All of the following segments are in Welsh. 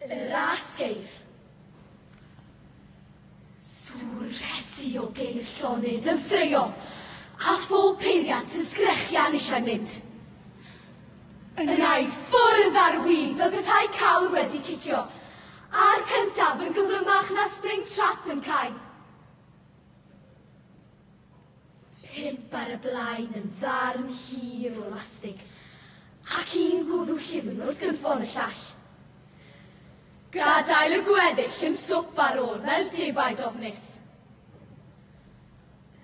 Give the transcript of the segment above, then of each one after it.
Yr asgeir. Swrresi o geir llonydd yn ffreio, a phob peiriant yn sgrechian eisiau mynd. Yn ei ffwrdd ar wib fel petai cawr wedi cicio, a'r cyntaf yn gyflymach na Springtrap yn cau. Pump ar y blaen yn ddarn hir o lastig, ac un gwddw llyfn wrth gynffon y llall. Gadael y gweddill yn swp ar ôl fel defaid ofnus.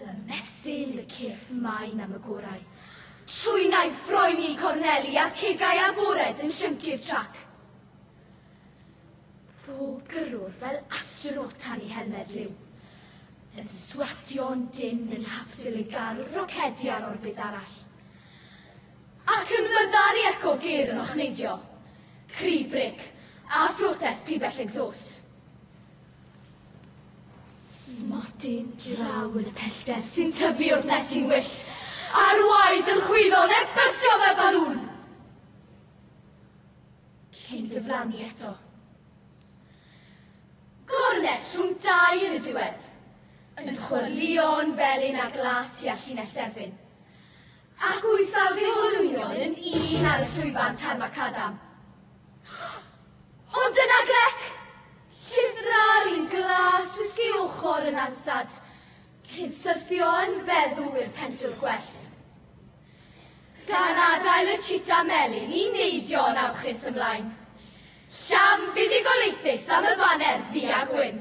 Y mesyn, y cyrff maen am y gorau. Trwynai'n ffroeni i corneli a'r cegau agored yn llyncu'r trac. Pob gyrrwr fel astronaut tan ei helmed liw, yn swatio'n dynn yn hafsil i gael wrth rocedi ar orbit arall. Ac yn fyddar i eco gear yn ochneidio, cri bric, a phrotest pibell exhaust. Smotyn draw yn y pellter sy'n tyfu wrth nes i'n wyllt, a'r waed yn chwyddo nes byrstio fel balŵn. Cyn diflannu eto. Gornest rhwng dau yn y diwedd, yn chwyrlïo'n felyn ar glas tua llinell derfyn. Ac wyth awd eu holwynion yn un ar y llwyfan tar macadam. Ond dyna Glec! Llyfdra'r un glas wisgi ochr yn ansad, cyn syrthio yn feddw i'r pentwr gwellt. Gan adael y chita melyn i neidio yn awchus ymlaen. Llam fuddugoliaethus am y baner ddu a gwyn.